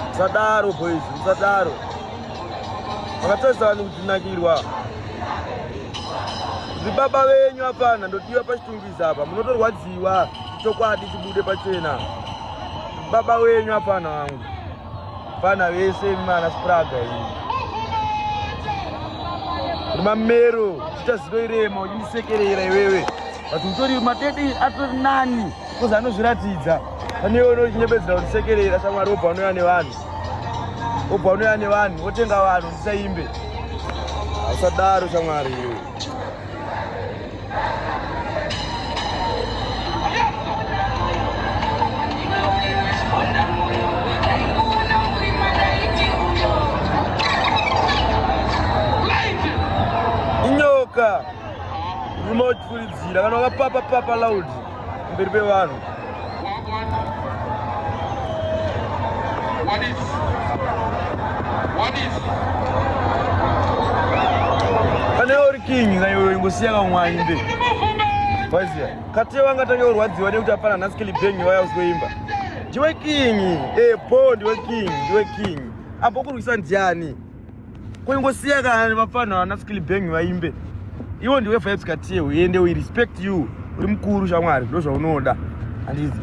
musadaro boys musadaro makatarisa vanhu kutinakirwa zvibaba venyu apana ndotiwa pachitungiza apa munotorwadziwa chokwadi chibude pachena baba wenyu apana wangu pana vese mana spraga iyi rimamero chita zino irema uchisekerera iwewe but utori matete atori nani kozi anozviratidza pane iwe unochinebedzera kutisekerera shamwari wobva unouya nevanhu wobva unouya nevanhu wotenga vanhu ndisaimbe usadaro shamwari iwe inyoka rimotipfuridzira kana wakapapa papa laudi mberi pevanhu What is? What is? Pane uri king na iwe ingosiya kamwe aimbe. Waziya. Kati wanga tange urwadziwa nekuti apana nhasi kili bang vaya usizoimba. Ndiwe king. Eh, bo ndiwe king, ndiwe king. Apo kurwisa ndiani? Kungosiya kana vapfana vana skill bang vaimbe. Iwo ndiwe vibes katie uende we respect you. Uri mkuru shamwari ndozvaunoda. Andizi.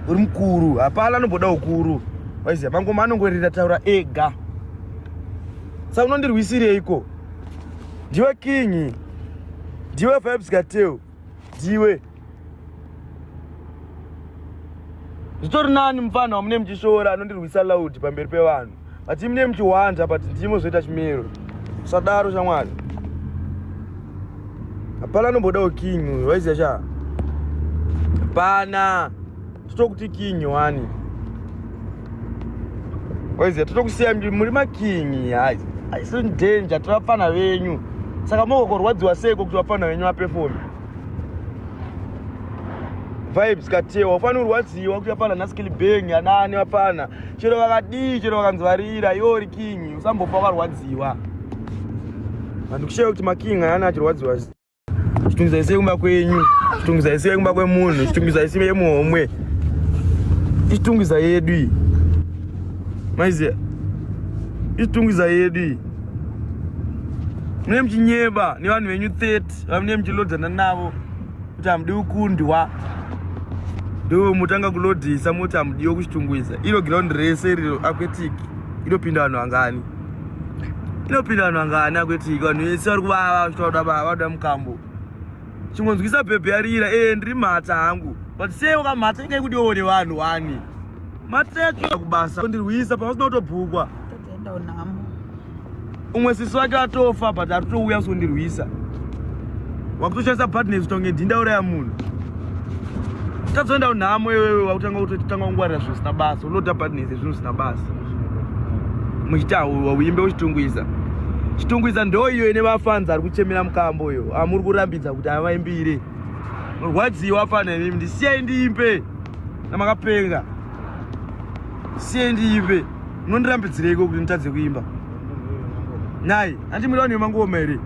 Uri mkuru. Hapana anoboda ukuru. Waiziya mangoma anongorira taura ega. Sa unondirwisireiko? Ndiwe king. Ndiwe vibes katie. dziwe zvitori nani mupfanha wamune muchishoora anondirwisa loud pamberi pevanhu but imune muchihwanja but ndimo zvoita chimero sadaro shamwari hapana anombodawo king uyu waiziva shaa hapana totokuti king wani oiziva totokusiya muri makingi hais haisi danger tiri vapfana venyu saka mokokorwadziwa seiko kuti vapfana venyu vapefoni vibes katewa ufani urwadziwa kuti vapfana naskilibeng anani vapfana chero vakadii chero vakanzi varira iwo uri kingi usambofa wakarwadziwa vanhu kusheya kuti makingi ayani achirwadziwa Chitungidzai sei kumba kwenyu? Chitungidzai sei kumba kwemunhu? Chitungidzai sei yemuhomwe? Ichitungidzai yedu iyi. Maiziya? Ichitungidzai yedu iyi. Mune muchinyeba nevanhu venyu 30 vamune muchilodzana navo kuti hamudi kukundwa ndo mutanga kulodhisa moti hamudiwo kuchitungwiza iro giraundi rese iriro aquetic inopinda vanhu vangani inopinda vanhu vangana kweti vanhu vese vari kuvava vachitoda baba vada mukambo chingonzwisa bhebhe yarira e eh, ndiri mhata hangu but sei wakamhata inga ikuti iwone vanhu wani mhata yacho kubasa ndirwisa pausina kutobhukwa umwe sisi wake atofa but ari kutouya kusondirwisa wakutoshandisa badness kutonge dhinda uraya munhu tazoenda unhamo iwewe wakutanga kutotanga kungwarira zvisina basa unoda badness zvinhu zvisina basa muchitaura uimbe uchitungwiza chitungwiza ndo iyo ine vafanzi ari kuchemera mukambo uyo amuri kurambidza kuti avaimbire rwadziwa fana imimi ndisiyai ndiimbe namakapenga siyai ndiimbe munondirambidzireiko kuti nditadze kuimba nhai andi muri vanhu vemangoma here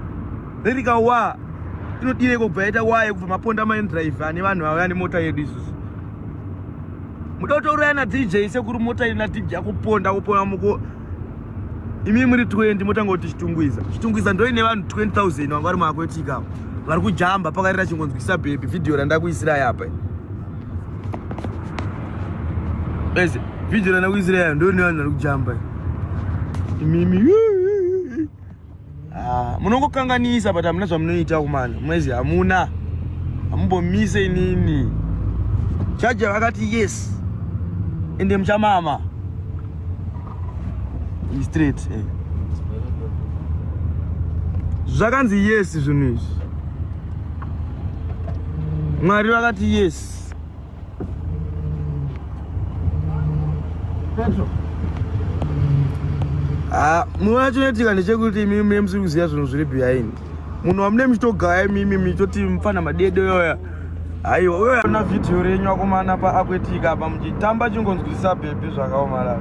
ririka wa inodireiko kubva yaita wa yekubva maponda maendrive ane vanhu vauya nemota yedu isusu muda kutouraya na dj sekuri mota ina dj yakuponda kupona muko imi muri 20 motanga kuti chitungwiza chitungwiza ndoine vanhu 20000 vanga vari maakwetika vari kujamba pakarira chingonzwisa bhebhi vhidhiyo randakuisirai apa bese vhidhiyo randakuisirai ndoine vanhu vari kujamba imimi Ah, munongokanganisa but hamuna zvamunoita kumana mwezi hamuna hamumbomise inini chaja vakati yes ende muchamama straight eh. zvakanzi yes zvinhu izvi mwari vakati yes Petro. Ah, munoona chinoitika ndechekuti imimi mune musiri kuziva zvinhu zviri behind. Munhu wamune muchitogaya imimi muchitoti mfana madede yoya. Aiwa, uyo ana video renyu akomana pa akwetika apa muchitamba chingonzwisisa bhebhi zvakaomarara.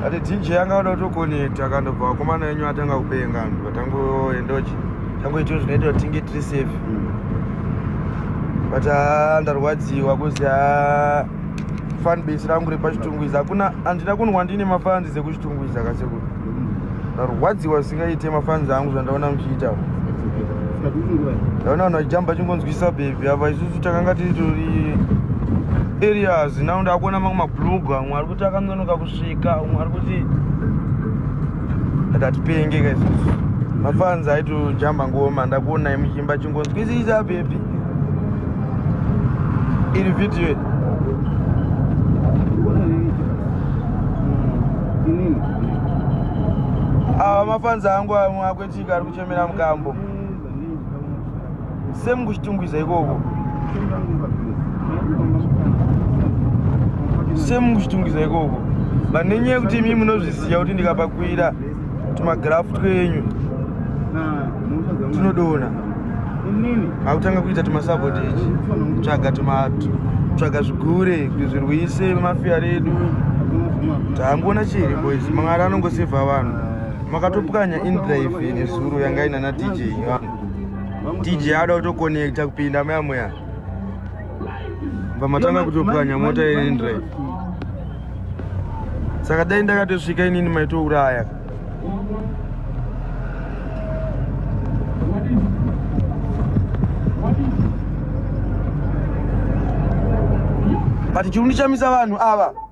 ati dj yanga oda kutokonekta akandobva vakomana enyu atanga kupenga anhu vatangoendochi tangoitio zvinoita kuti tinge tiri safe but ah, ndarwadziwa kuzi ah, fanbase rangu repachitunguiza hakuna handina kunwa ndine mafanzi dzekuchitunguiza kasekuru ndarwadziwa zvisingaite mafanzi angu zvandaona muchiita ndaona vanhu vachijamba chingonzwisa bhebhi apa isusu takanga titori areas now ndakuona mamwe mablugu amwe ari kuti akanonoka kusvika amwe ari kuti akatipenge ka isusu mafanzi aitojamba ngoma ndakuonai muchimba chingonzwisisa bhebhi iri vhidhiyo ava mafanza angu amwe akwetika ari kuchemera mukambo semukuchitungwiza ikoko semukuchitungwiza ikoko vane nyaya yekuti imi munozviziva kuti ndikapakwira tumagrafu twenyu tunodona akutanga kuita tumasabotage tsvaga tumato tsvaga zvigure kuzvirwise mafia redu taangoona chiri boys mwari anongosevha vanhu makatopwanya indrive nezuro yanga inana dj dj ada kutoconnecta kupinda mayamoya bva matanga kutopwanya mota yendrive saka dai ndakatosvika inini maitouraya but chirundi chamisa vanhu ava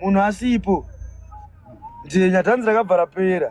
munhu asipo ndiye nyatanzi rakabva rapera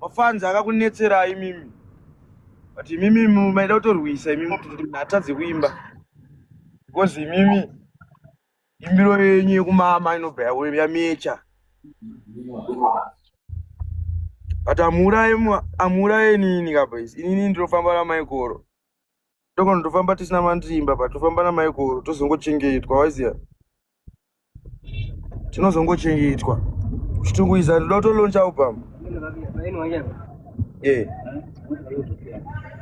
Mafanzi akakunetsera imimi. But imimi maida kutorwisa imimi kuti atadze kuimba. Because imimi imbiro yenyu yekumama inobva yamecha. But amuuraye amuuraye inini ka boys. Inini ndinofamba na Maikoro. Tokona tofamba tisina mandimba but tofamba na Maikoro tozongochengetwa waiziya. tinozongochengetwa kuchitunguiza ndoda kutoloncha album eh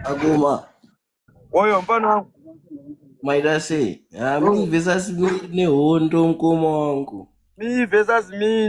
aguma oyo mfana wangu maida sei ah, mi versus mi nehondo mkoma wangu mi versus mi